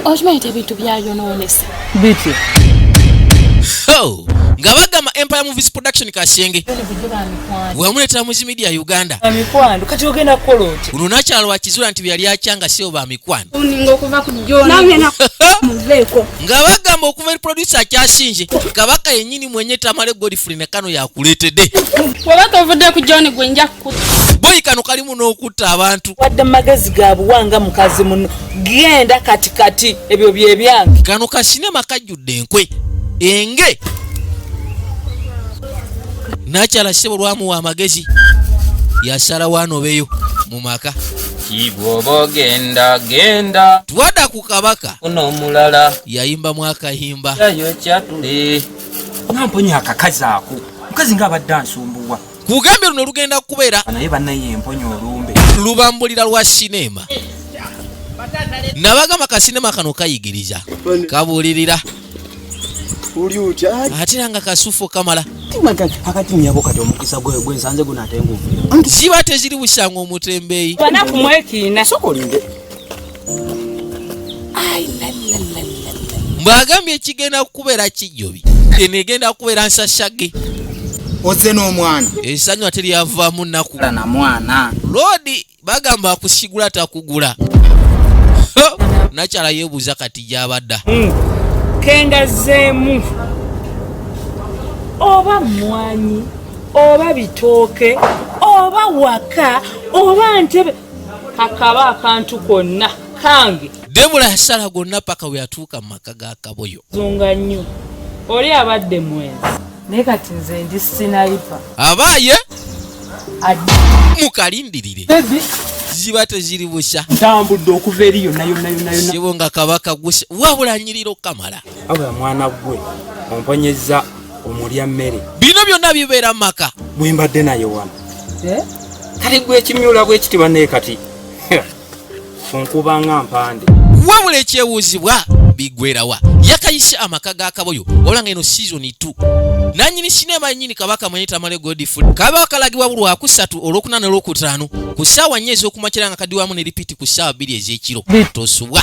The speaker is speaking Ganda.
okimanyi nti ebintu byayonoonesa bityo oh, nga bagamba empire movies production kasenge wemuletera muzi media uganda mikwano kati ogenda kukola oti uno nakyalo wakizula nti byali akyanga sio ba mikwano nga bagamba okuva eri producer akyasinje kabaka yenyini mwenye tamale godfrey nekano yakuletede wabaka ovudde ku john gwenja kukuta boyi kano kalimu n'okutta abantu wadde magezi gabuwanga mukazi muno genda kati kati ebyo byebyange kano kasinema kajjudde enkwe enge nakyala sebo lwamuwa amagezi yasala wanobeyo mu maka kibwoba ogenda genda twada ku kabaka ono omulala yayimba mwakayimba yayo kyatule namponya akakazi ako mukazi nga abadde ansumbuwa kugambye luno lugenda kubeera naye banaye emponya olumbe lubambulira lwa sineema nabagamba kasinema kano kayigiriza kabulirira ate era nga kasufu kamala ziba teziri busanga omutembeyi mbwagambye ekigenda kukubeera kijjobi eno egenda kukubeera nsashage oze n'omwana esanyu ate lyavaamu naku na mwana loodi bagamba akusigula takugula nakyala yebuuza kati gyabadda hmm. kengazeemu oba mwanyi oba bitooke oba waka oba ntebe kakaba akantu konna kange debula yasala gonna paka weyatuuka mu maka ga kaboyo zunga nnyo oli abadde mwenzi naye kati nze ndi sinayipa abaaye mukalindirire ziba teziri busha ntambudde okuva eri yonayonayonayonasibo nga kabaka gusa wabula nyirira okukamala abula mwana gwe omponyeza omulya mmere bino byonna bibeera maka bwembadde naye wano eh? kati gwe ekimyula bwe kiti bane kati kunkubanga mpande wabula ekyewuuzibwa bigwerawa yakayise amaka ga kaboyo ola nga eno season 2 nanyini sinema nyini kabaka mwenye tamale godfrey kaba akalagibwa bulwa kusatu olwokuna nolwokutaano ku ssaawa nnya ez'okumakira nga kadiwamu ne lipiti ku ssaawa bbiri ez'ekiro tosubwa